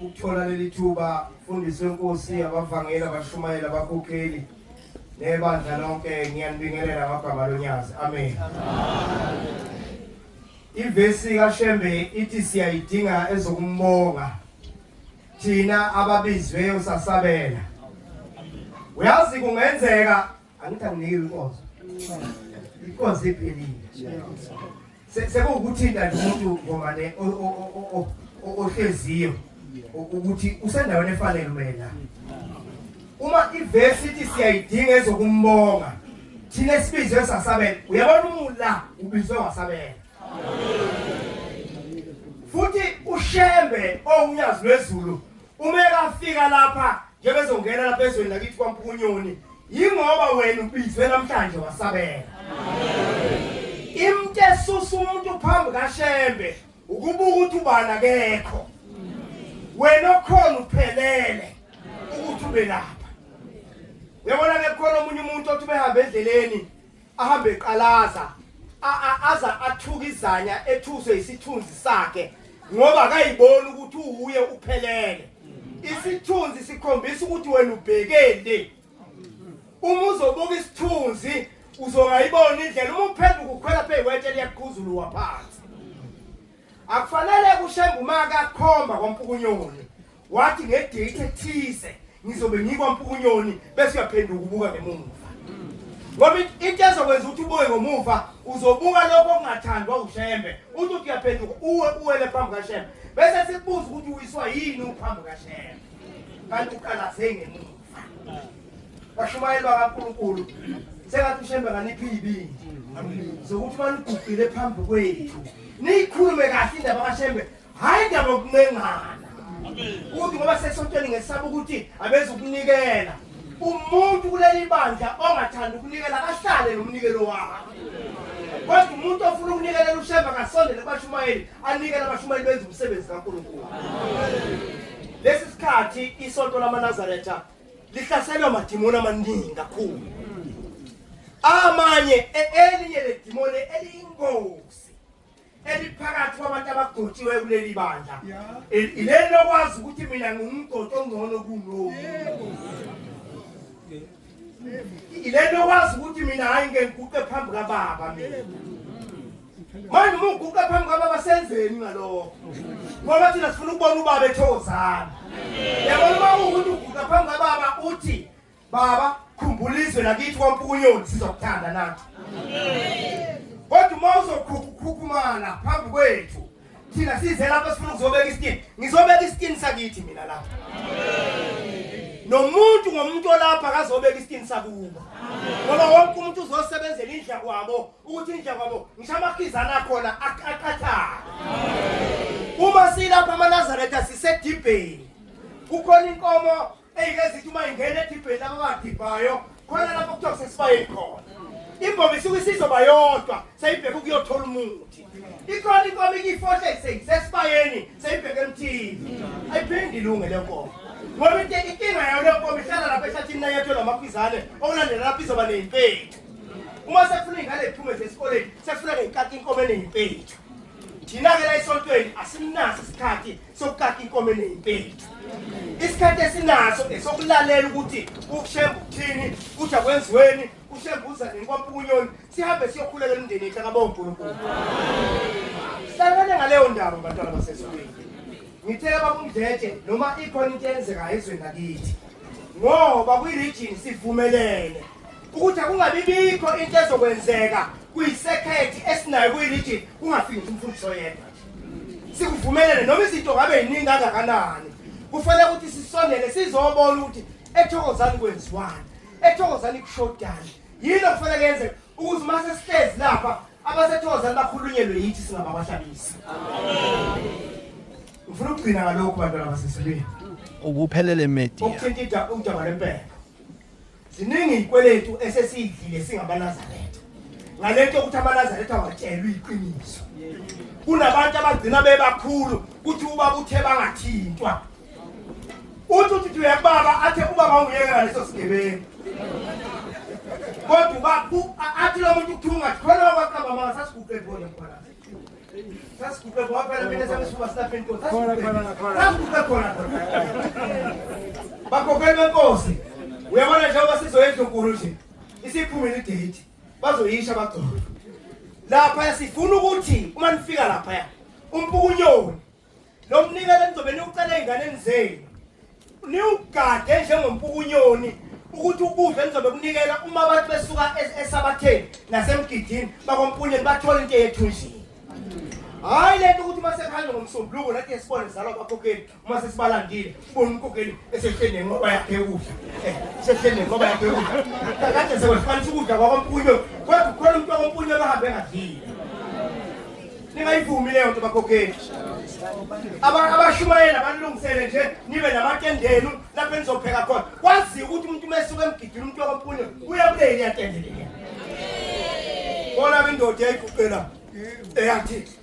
ukuthola leli thuba mfundisi wenkosi abavangeli abashumayeli abakhokheli nebandla lonke ngiyanibingelela ngagama lonyazi amen ivesi kashembe ithi siyayidinga ezokumbonga thina ababizwe usasabela uyazi kungenzeka angithi anginike inkonzo inkonzo iphelile sekuwukuthinta nje umuntu ngomane ohleziyo ukuthi usendaweni efanele umela uma ivesi ithi siyayidinga ezokumbonga thina esibizwe esasabela uyabona umula ubizwe wasabela futhi ushembe owunyazi lwezulu Uma ekafika lapha njengoba ezongena lapha ezweni lakithi kwaMpukunyoni yingoba wena ubizwe namhlanje wasabela. Imntu esusa umuntu phambi kaShembe ukubuka ukuthi ubani akekho. Wena okhona uphelele ukuthi ube lapha. Uyabona ke khona omunye umuntu othi behambe endleleni ahambe eqalaza a- a- aza athuka izanya ethuswe yisithunzi sakhe ngoba akayiboni ukuthi uwuye uphelele isithunzi sikhombisa ukuthi wena ubhekeni uma uzobuka isithunzi uzongayibona indlela uma uphenduka ukhwela pheyiwetshe liyaqhuzuluwa phansi akufanele kushembe umaka akhomba kwampukunyoni wathi ngedate ethize ngizobe ngikwampukunyoni bese uyaphenduka ubuka ngemuva ngoba into ezokwenza ukuthi ubuye ngomuva uzobuka lokho okungathandwa ushembe uthi uthi uyaphenduka uwe uwele phambi kashembe bese sikubuza ukuthi uyiswa yini uphambi kashembe kanti uqalaze ngemuva bashumayeli bakankulunkulu sengathi ushembe nganiphi iyibindi zokuthi banigugile phambi kwethu niyikhulume kahle indaba kashembe hayi ndaba yokuncengana ukuthi ngoba sesontweni ngesaba ukuthi abeza ukunikela umuntu kuleli bandla ongathanda ukunikela ahlale nomnikelo wakhe kodwa umuntu ofuna ukunikelela ushemba kasondele kubashumayeli anikele abashumayeli benza umsebenzi kankulunkulu lesi sikhathi isonto lamanazaretha lihlaselwa madimoni amaningi kakhulu amanye e-, elinye ledimoni eliyingozi eliphakathi kwabantu abagotshiwe kuleli bandla ileli lokwazi ukuthi mina ngingumgodi ongcono kunomu ileli lokwazi ukuthi mina hhayi ngengiguqe phambi kababa mina manje uma uguqe phambi kababa senzeni ngalokho ngoba thina sifuna ukubona ubaba ethozana yabona uma ukuthi uguqa phambi kababa uthi Baba khumbula izwe lakithi kwaMpukunyoni sizokuthanda nathi. Kodwa uma uzokhukhukhumala phambi kwethu thina size lapha sifuna ukuzobeka isitini. Ngizobeka isitini sakithi mina lapha. Nomuntu ngomuntu olapha akazobeka isitini sakubo. Ngoba wonke umuntu uzosebenzela indla kwabo ukuthi indla kwabo ngisho amakhizana akhona aqaqathana. Uma silapha amaNazaretha sisedibheni. Kukhona inkomo Eyikezithu uma ingena edibheni laba badibhayo khona lapho kuthiwa kusesibayeni khona. Imbobo isuke isizoba yodwa seyibheke ukuyothola umuthi. Ikhona inkomo iyifohle seyisesibayeni seyibheke emthini. Ayiphindi ilunge le nkomo. Ngoba into inkinga yayo le nkomo ihlala lapha ehlathini nayetho namakhwizane okulandela lapho izoba neyimpethu. Uma sefuna ingane iphume esikoleni sefuna ngeyikati inkomo eneyimpethi. Thina ke la esontweni asimnaso isikhathi sokukaka inkomo eneyimpeli isikhathi esinaso esokulalela ukuthi ukushemba ukuthini kuthi akwenziweni ushembuza nenkomo kunyoni sihambe siyokhulela imndeni yethu akabonga uNkulunkulu hlangane ngaleyo ndaba bantwana basesolweni ngithela babumdletshe noma ikhona into eyenzekayo ezweni lakithi ngoba kwi-region sivumelene ukuthi akungabi bikho into ezokwenzeka kuyisekhethi esinayo kwi-region kungafiki umfundisi oyedwa sikuvumelele noma izinto ngabe yiningi kangakanani kufanele ukuthi sisondele sizobona ukuthi ethokozani kwenziwani ethokozani kushodani yini okufanele kuyenzeka ukuthi uma sesihlezi lapha abasethokozani bakhulunyelwe yithi singababahlabisa ngifuna ukugcina ngalokhu bantwana basesibeni ukuphelele media ukuthinta udaba lempela Ziningi izikweletu esesiyidlile singamaNazaretha. Ngalento ukuthi amaNazaretha awatshelwe iqiniso. Kunabantu abagcina bebakhulu kuthi ubaba uthe bangathintwa. Uthi uthi uyakubaba athe ubaba ungiyekela leso sigebengu. Kodwa uba athi lo muntu uthunga khona wakwaqamba manga sasiguqe khona mkhwanazi. bakhokheli benkosi uyabona njengoba sizoya endlunkulu nje isiphumile idate bazoyisha bagcobe lapha sifuna ukuthi uma nifika lapha umpukunyoni Lo mnikelo nizobe niwucela ezinganeni zenu. Niwugade njengompukunyoni ukuthi ukudla nizobe kunikela uma abantu besuka esabatheni nasemgidini bakompunyeni bathola into eyethunjini. Hayi lento ukuthi uma sekuhamba ngomsombuluko nathi sibone zalwa bakhokheli uma sesibalandile. Bona umkokeli esehleli nenqoba yakhe yokudla. Eh, sehleli nenqoba yakhe yokudla. Kakade sekwehlukanisa ukudla kwakompunyo. Kodwa ukhona umuntu wakompunyo abahambe engadlile. Ningayivumi leyo nto bakokeli. abashumayela banilungisele nje nibe namatende enu lapho enizopheka khona kwaziwe ukuthi umuntu uma esuke emgidini umuntu wakophunye uya kuleli yatende leya bona ke indoda yayiguqela eyathi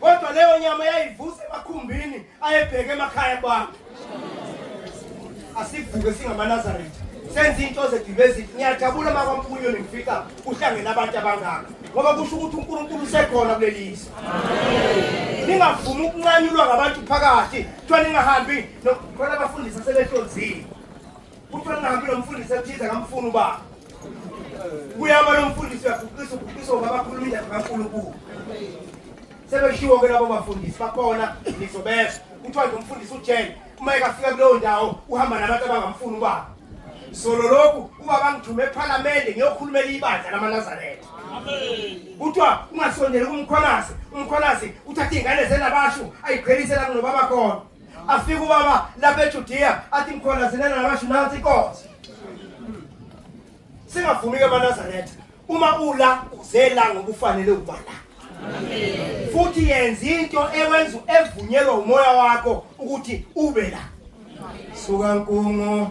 kodwa leyo nyama yayivusa emakhumbini ayebheke emakhaya abantu asivuke singamaNazaretha senza into zedibezini ngiyajabula uma kwampunyo nifika uhlangene abantu abangaka ngoba kusho ukuthi uNkulunkulu usekhona kulelizwe ningavumi ukunqanyulwa ngabantu phakathi kuthiwa ningahambi khona abafundisi asebehlonzile Kuthiwa ngihambi lo mfundisi ethize ngamfuna ubaba. Kuyaba lo mfundisi uyaguqisa uguqisa ubaba akhuluma indaba kaNkulunkulu. Sebeshiwo ke labo bafundisi bakhona ngizobeza. Kuthiwa nje umfundisi ujele uma ekafika kuleyo ndawo uhamba nabantu abangamfuni ubaba. Solo lokhu ubaba ngithume ephalamende ngiyokhulumela ibandla lamaNazaretha. Kuthiwa ungasondeli kumkhwanazi, umkhwanazi uthatha ingane zenabashu ayiqhelise la kunobaba khona. afika ubaba lapha ejudiya athi ngikholazelana nabasho nansi inkosi singavumi-ke abanazaretha uma ula uzela ngoba ufanele ukuba la futhi yenza into ewenza evunyelwa umoya wakho ukuthi ube la suka nkungu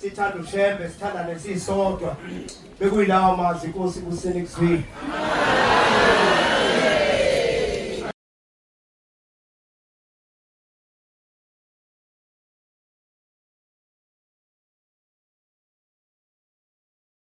sithanda ushembe sithandane sisodwa bekuyilawo mazwi inkosi kuseni kuzwile